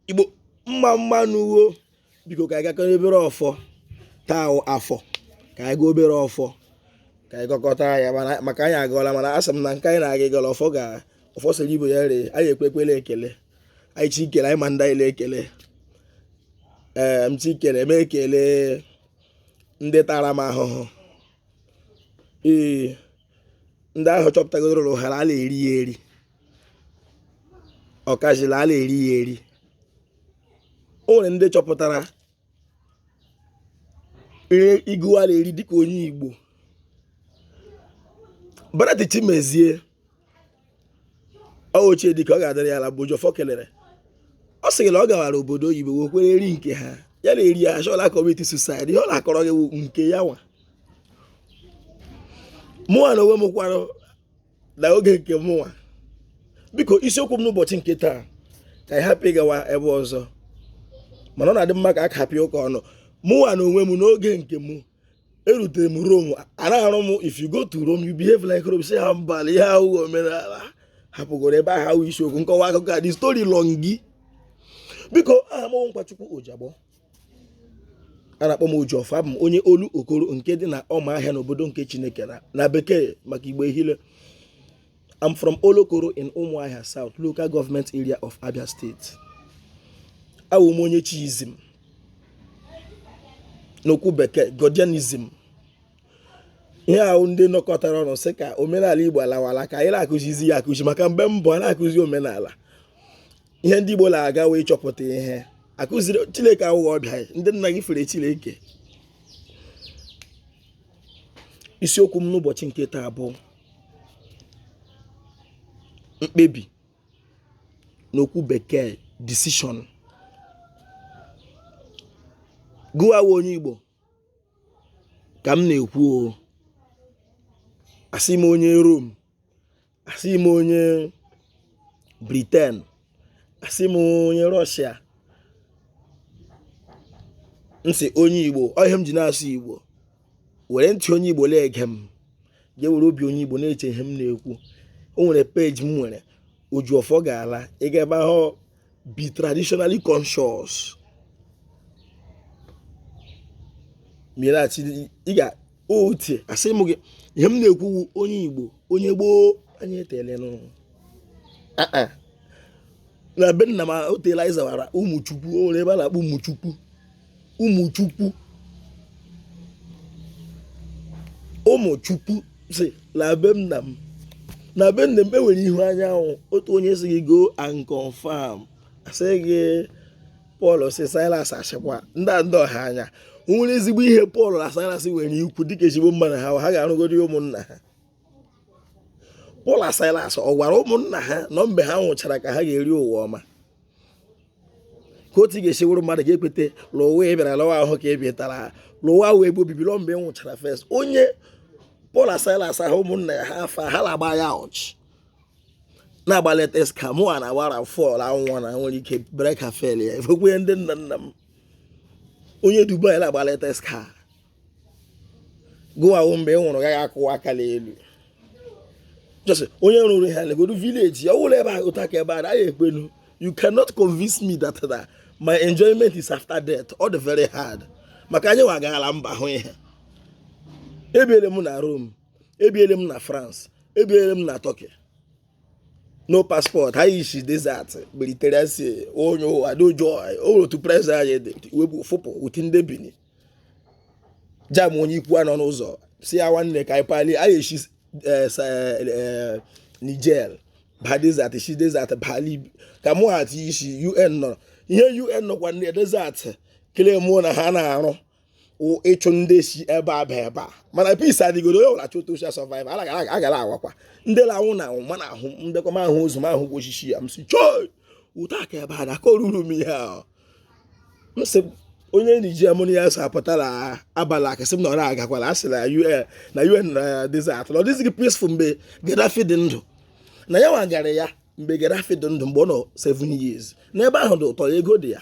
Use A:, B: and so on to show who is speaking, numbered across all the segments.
A: igbo mma mma nụ wo biko ka anyị gọkọrọ obere ọfọ taa afọ ka anyị gọọ obere ọfọ ka anyị gọkọta ya maka anyị agọla mana asị m na nke anyị na-aga ịgọla ọfọ ga ọfọ sịrị Igbo ya ree anyị ekwekwele ekele anyị chi ikele anyị ma ndị anyị ekele ee m chi ikele eme ekele ndị taara m ahụhụ ee ndị ahụ chọpụtagodoro ụha na a na-eri ya eri ọkazị na a na-eri ya eri o nwere ndị chọpụtara ihe ugu a na-eri dịka onye Igbo Bright Chimezie ọ ochie dịka ọ ga-adịrị ya ala bụ Oji ọfọ kelere ọ sịrị na ọ gawara obodo oyibo wee kwere eri nke ha ya na-eri ya a sị ọ na commit suicide ihe ọ na-akọrọ gị wụ nke ya nwa mụnwa na onwe m kwara na oge nke mụnwa biko isiokwu m n'ụbọchị nke taa ka anyị hapụ ịgawa ebe ọzọ mana ọ na-adị mma ka a kapịa ụka ọnụ mụnwa na onwe m n'oge nke mụ erutere m Rome anaghị arụ m if you go to Rome you behave like Rome sị ha mba na ihe ahụ omenala hapụgoro ebe ahụ ahụ isiokwu nkọwa akụkọ a dị story long biko aha m Nkwachukwu Ojiagbọ a na-akpọ m oji ọfọ abụ m onye olu okoro nke dị na ọma ahịa n'obodo nke chineke na na bekee maka igbo ehile I'm from Olokoro in Umuahia South, local government area of Abia State. Awụ m onye Chiism n'okwu bekee Godianism. Ihe ahụ ndị nọkọtara ọnụ sị ka omenala Igbo alawala ka anyị na-akụzizi ya akụzi maka mgbe mbụ a na-akụzi omenala. ihe ndị Igbo na-agawa ịchọpụta ihe a kụziri Chineke awụghị ọbịa ndị nna gị fere Chineke isiokwu m n'ụbọchị nke taa bụ mkpebi n'okwu bekee decision gịnwa onye Igbo ka m na-ekwu o asị m onye Rome asị m onye Britain asị m onye Russia m sị onye igbo ọ ihe m ji na-asụ igbo were ntị onye igbo na-ege m jee were obi onye igbo na-eche ihe m na-ekwu o nwere peji m nwere oji ọfọ ga-ala ị gaa ebe ahụ be traditionally conscious mirachi ị ga otie asị m gị ihe m na-ekwu wụ onye igbo onye gboo anyị etelenụ na be nna m o teela anyị zawara ụmụchukwu o nwere ebe a na-akpọ ụmụchukwu ụmụchukwu ụmụchukwu si na be nna m na be nna m enwere ihu anyanwụ otu onye sị gị go and confirm asị gị Paul si silas achịkwa ndị ndị ọha anya o nwere ezigbo ihe Paul na silas nwere ikwu dịka ezigbo mmadụ ha ga-arụgodi ụmụnna ha Paul na silas ọ gwara ụmụnna ha na mgbe ha nwụchara ka ha ga-eri ụwa ọma ka otu ị ga-esi wụrụ mmadụ ga-ekweta lụwa ị bịara lụwa ahụ ka ị bịatara lụwa ahụ ebe obibi lụọ mgbe ị nwụchara first onye Paul na silas ahụ ụmụnna ya ha afa ha na-agba ya ọchị na-agba latest car mụwa na-agbara fọl anwụnwa na nwere ike brake afail ya efekwe ndị nna nna m onye dubai na-agba latest car gụwa wụ mgbe ị nwụrụ gaghị akụwa aka n'elu just onye rụrụ ihe legodu village ya ọwụla ebe a ụta ka ebe a na ekwenu you cannot convince me that that my enjoyment is after death ọ dị very hard maka anyịwa agaala mba hụ ihe ebiele m na Rome ebiele m na France ebiele m na Turkey no passport anyị ishi desert Mediterranean Sea onye ụwa dị ọjọọ o nwere otu place anyị dị wepụ fụpụ uti ndị Benin jam onye Ikwuano n'ụzọ sị ya nwanne ka anyị pali anyị eshi eh, eh, eh, Niger ba desert shi desert bali ka mụ ha ti ishi UN na ihe UN nọkwa na desert kelee mụ na ha na-arụ ịchụ ndị si ebe a ba ebe a mana peace adịgoro onye ọbụla chụta osisi survive a gara awakwa ndị na-anwụ na-anwụ mana ahụ mbekwa m ahụ ụzọ m ahụ gwa osisi ya m sị chọị ụta ka ebe a na-akọruru m ihe ahụ m sị onye Nigeria mụ na ya so apụtara abalị akasị m na ọrụ agakwala a sị na UN na UN na desert na ọ dịzighị peaceful mgbe Gaddafi dị ndụ na ya nwa gara ya mgbe Gaddafi dị ndụ mgbe ọ nọ 7 years n'ebe ahụ dị ụtọ ego dị ya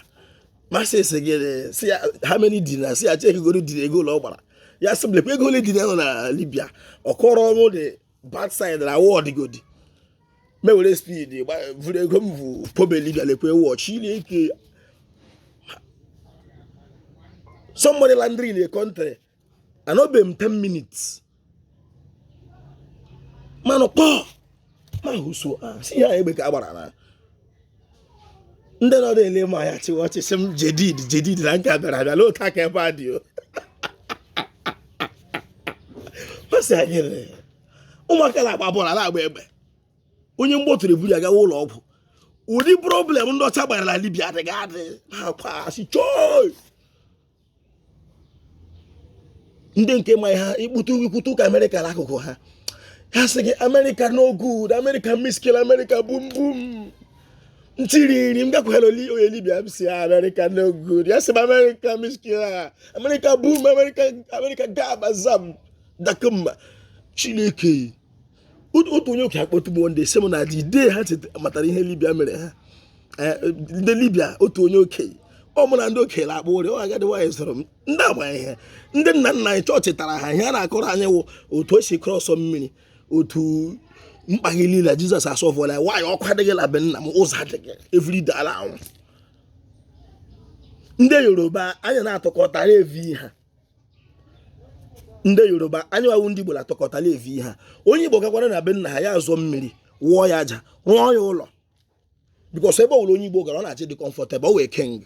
A: masị sị gị sị ya how many dinar sị ya chekigoro di ego ụlọ ọ gbara ya sị m lekwa ego ole dinar nọ na libya ọ kọrọ ọnwụ the bad side na ọ wụgodi m ewere speed gba- vụrụ ego m bụ pobe libya lekwe watch ị na-eke somebody landing in a country anọbeghị m 10 minutes m anụ kpọọ ma hụso si ya egbe ka a gbara na ndị nọ na-ele m anya chịwa ọchị sị m jedid jedid na nke bịara abịa na otu a ka ebe a dị o masị anyị ụmụaka na-agba bọọlụ na-agba egbe onye mgbọ tụrụ eburu ya gawa ụlọ ọgwụ ụdị problem ndị ọcha gbara na libya adịghị adị na-akwụsị chọị ndị nke ma ha ikputu ikwutu ka America n'akụkụ ha ha sị gị America no good America mushkil America boom boom ntiriri m gakwara onye Libya m sị America no good ya sị m America mushkila America boom America America gaba zam dakmma Chineke otu onye ụka akpọtugbo ndị si m na the day ha matara ihe Libya mere ha eh, ndị Libya otu onye okenye ọ mụ na ndị okenye na-akpa ụrị ọ agadi nwaanyị soro m ndị agbanyeghị ha ndị nna nna anyị chọọchị tara ha ihe a na-akọrọ anyị wụ otu e si cross mmiri otu mkpa gị niile Jesus asọfụla ya nwaanyị ọkụ adịghị na be nna m ụzọ adịghị everyday a la-anwụ ndị Yoruba anya na-atụkọtara evi ha ndị Yoruba anyị wa wụ ndị Igbo na-atọkọtala evi ha onye Igbo gakwara na be nna ha ya azụọ mmiri wụọ ya aja rụọ ya ụlọ because ebe ọbụla onye Igbo gara ọ na-achọ ịdị comfortable ọ wee keng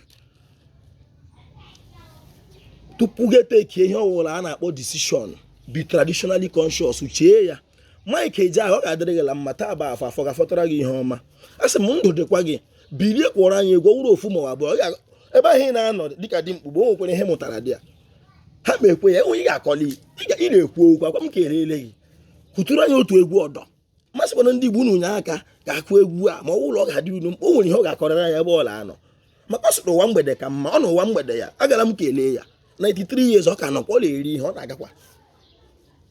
A: tupu gị etekie ihe ọbụla a na-akpọ decision be traditionally conscious chee ya Mike Ejeagha ọ ga-adịrị gị la mma taa bụ afọ afọ ga-afọtara gị ihe ọma a sị m ndụ dịkwa gị bilie kụọrọ anyị egwu ọ wụrụ ofu ma ọ abụọ ebe ahụ ị na-anọ dịka dị mkpugbe o nwekwara ihe mụtara dị ya ha ma ekwe ya enwe ị ga-akọli ị na-ekwu okwu akwa m ka erele gị kụtụrụ anyị otu egwu ọdọ masịkwana ndị Igbo unu nye aka ga-akụ egwu a ma ọ ụlọ ọ ga-adị unu mkpa o nwere ihe ọ ga-akọrịra ya ebe ọ la-anọ maka ọ sị na ụwa mgbede ka mma ọ nọ n'ụwa mgbede ya agara m kelee ya 93 years ọ ka nọkwa ọ na-eri ihe ọ na-agakwa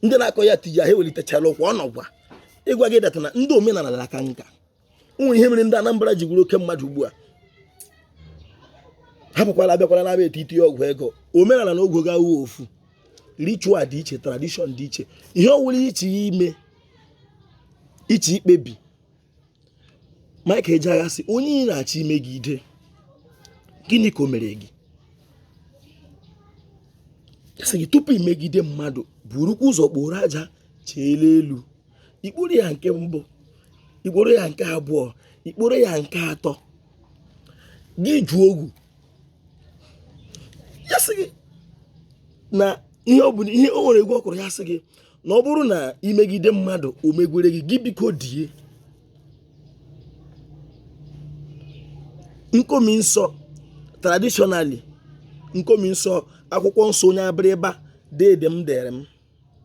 A: ndị na-akọ ya tiji ahụ ewelitechara ụkwa ọ nọkwa ịgwa gị that na ndị omenala na-aka nka nwere ihe mere ndị Anambra ji wụrụ oke mmadụ ugbu a hapụkwala abịakwala na-aba etiti ọgwụ ego omenala na ọgwụ ego awụghị ofu ritual dị iche tradition dị iche ihe ọwụla ị chọ ime ị chọ ikpebi Mike Ejeagha sị onye ị na-achọ imegide gịnị ka o mere gị sị gị tupu imegide mmadụ burukwa ụzọ kporo aja chilie elu i kporo ya nke mbụ i kporo ya nke abụọ i kporo ya nke atọ gị jụọ ogu ya sị gị na ihe ọ bụla ihe o nwere egwu ọ kụrụ ya sị gị na ọ bụrụ na i megide mmadụ o megwere gị gị biko die nkomi nsọ traditionally nkomi nsọ akwụkwọ nsọ onye Abịrịba deede m dere m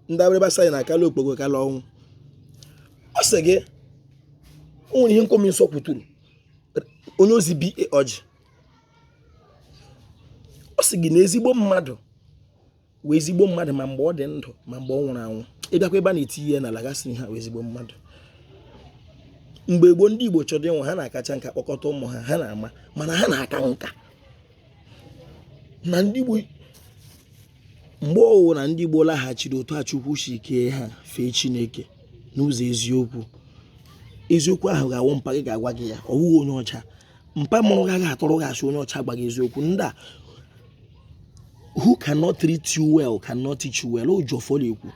A: ndị abịrịba sị anyị na akala okpogho kala ọnwụ ọ sị gị o nwere ihe nkomi nsọ kwuturu onye ozi bi ọjị ọ sị gị na ezigbo mmadụ wụ ezigbo mmadụ ma mgbe ọ dị ndụ ma mgbe ọ nwụrụ anwụ ị bịakwa ebe a na-eti ihe na lagasị ha wụ ezigbo mmadụ mgbe gboo ndị Igbo chọrọ ịnwụ ha na-akacha nka kpọkọta ụmụ ha ha na-ama ama na ha na-aka nka na ndị Igbo mgbe ọwụ na ndị Igbo laghachiri otu a Chukwu si kee ha fee Chineke n'ụzọ eziokwu eziokwu ahụ ga-awụ mpa gị ga-agwa gị ya ọ wụghị onye ọcha mpa mụrụ gị agaghị atụrụ gị asị onye ọcha agwa gị eziokwu ndị a who cannot treat you well cannot teach you well o ji ọfọ la-ekwu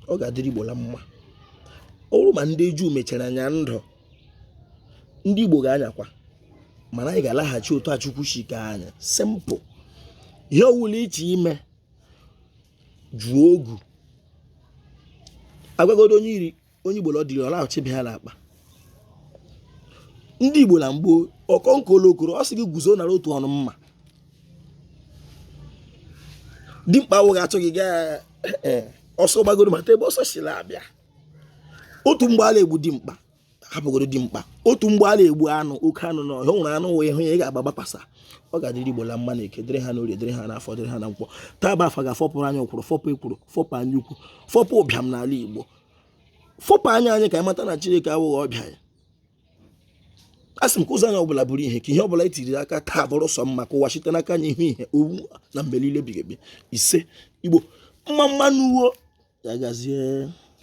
A: ọ ga-adịrị Igbo la mma ọ wụrụ ma ndị Juu mechara nya ndụ ndị Igbo ga-anyakwa mana anyị ga-alaghachi otu a Chukwu si kee anyị simple ihe ọwụla iche ime jụọ ogu agwagodo onye Igbo la ọ dịrị ọ laghachi be ha n'akpa ndị Igbo na mgbo ọkọnkọ olokoro ọ sị gị guzo nara otu ọnụ mma dimkpa awụghị a chọọ ịgba ọsọ gbagodo mata ebe ọsọ si la-abịa otu mgbe a la-egbu dimkpa hapụgodo dimkpa otu mgbe a la-egbu anụ oke anụ na ọhịa o nwere anụ wụ ị hụ ya ị ga-agba gbakwa ọsọ ọ ga-adịrị igbo la mma na eke dịrị ha n'orie dịrị ha n'afọ dịrị ha na nkwọ taa bụ afọ ga-afọpụrụ anyị ụkwụrụ fọpụ ekworo fọpụ anya ukwu fọpụ ụbịam n'ala igbo fọpụ anya anyị ka anyị mata na chineke awụghị ọbịa ya a sị m ka ụzọ anyị ọbụla bụrụ ihe ka ihe ọbụla e tiri aka taa bụrụ sọ mma ka ụwa site n'aka anyị hụ ihe ugbu a na mgbe niile ebighị ebi isee igbo mma mma nụ wo ya gazie